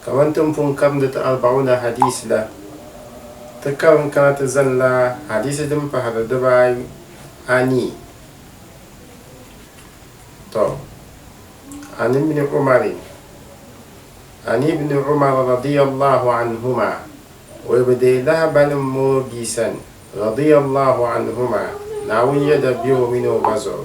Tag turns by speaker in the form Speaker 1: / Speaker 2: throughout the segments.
Speaker 1: Kaman ti ni pun karindi ti Arba'una Hadiisi la, ti karim kana ti zanila hadiisi din pahiri dibaa anii. Tɔ! An Ibn Umarin, An Ibn Umar radiyallahu anhuma, o yi bi deei lahabali m-mɔŋ o bia sani, radiyallahu anhuma, Naawuni yɛda be o mini o ba zuɣu.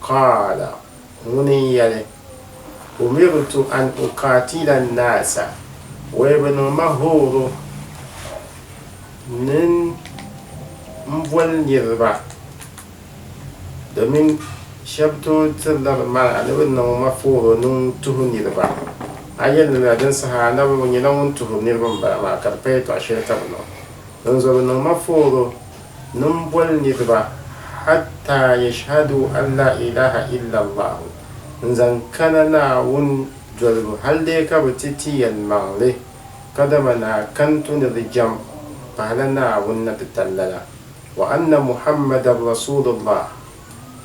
Speaker 1: Qaala, ŋuni n-yɛli, Umirtu an uqaatila an-naasa, wee bɛ niŋ ma hooro ni n boli niriba, domin shɛba tooi tirila di maana ni bɛ niŋ ma hooro ni n tuhi niriba. A yɛli ni la din saha Annabi ŋɔ nyɛla ŋun tuhiri niriba m-bala maa ka di paya tɔɣ shɛli ka bɛ niŋ. Dinzuɣu bɛ niŋ ma hooro nimbɔlinidiba, hatta yashhadu an la ilaha illa Allahu, n-zaŋ kana Naawuni dolibu hal dee ka bɛ ti ti yɛlimaŋli, kadama ni a kani tu ni di jɛm pahila Naawuni ni ti tali lala, wa anna Muhammadan rasuulullah,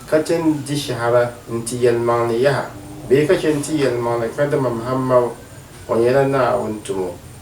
Speaker 1: ka chɛ n-di shɛhira n-ti yɛlimaŋli yaha bee ka chɛ n-ti yɛlimaŋli kadama Muhammadu ŋɔ nyɛla Naawuni tumo.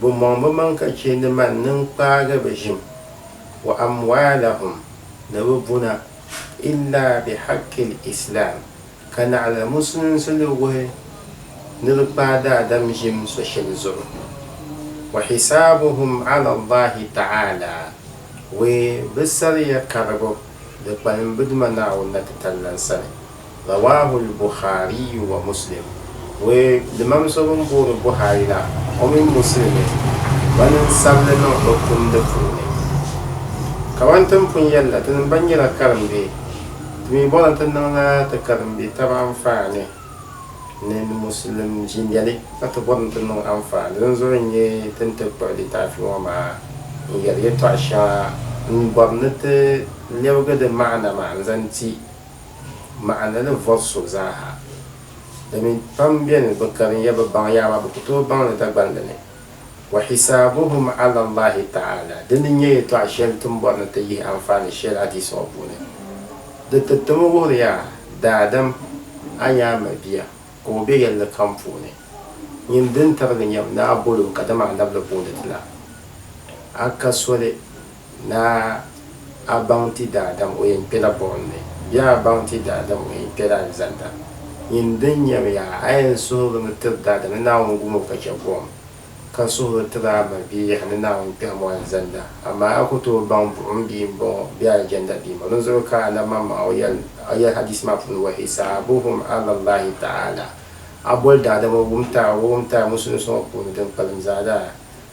Speaker 1: bɛ mɔŋ bɛ maŋ ka chɛ ni man nini kpaagi bɛ ʒim, wa amwaalahum, ni bɛ buna, illa bihaqqil islaam, ka naɣila musulinsi ni wuhi ni di kpaai daadam ʒim so shɛli zuɣu, wa hisaabuhum ala Allahi ta'aala, wee bɛ sariya karibu di kpalim bɛ Duuma Naawuni na titali lan sani. Rawahul Bukhariyu wa Muslim, Ŋɔ limam so bɛn booni Buhari la o mini Muslimi gba niŋ sabili niŋ o tumdi puuni. Kaman ti ni pun yɛli la, ti ni gba nyɛla karimbe, ti mi bɔrimi ti niŋla ti karimbe taba anfaani ni Muslim jindɛli ka ti bɔrimi ti niŋ anfaani din zuɣu n-nyɛ ti ni ti kpuɣi litaafi ŋɔ maa n-yɛli yɛtɔɣ shɛŋa n-bɔri ni ti lɛbigi di maana maa n-zaŋ ti maɣindi ni vɔri so zaaha. Domin pam beni bɛ karin ya bɛ baŋ ya amaa bɛ ku tooi baŋ li Dagbani li ni. Wa hisaabuhum ala Allahi ta'aala, dini n nyɛ yɛltɔɣa shɛli ti ni bɔri ni ti yihi anfaani shɛli hadiisi ŋɔ puuni. Di ti ti mi wuhiri ya, Daadam, a nya a mabia ka o be yɛlli kam puuni. Nyin din tarigi nyam ni a bol o kadama a nab li booni ti la. A ka soli. Naa, a baŋ ti daadam o yɛn kpela buɣim ni, bee a baŋ ti daadam o yɛn kpela alizanda? Nyin din nyami yaa, a yɛn suhirimi tiri daadam ni Naawuni gum o ka chɛ buɣim, ka suhiri tiri a ma bee yaha ni Naawuni kpɛhim o alizanda? Amaa a ku tooi baŋ buɣim bia m-bɔŋɔ bee alijanda bia m-bɔŋɔ. Dinzuɣu ka Annabi Maŋmaŋa o yɛl a yɛl hadiisi maa puuni, Wa hisaabuhum ala Allahi ta'aala, a boli daadam o wumtaai o wumtaai musulinsi ŋɔ puuni din kpalim zaa daa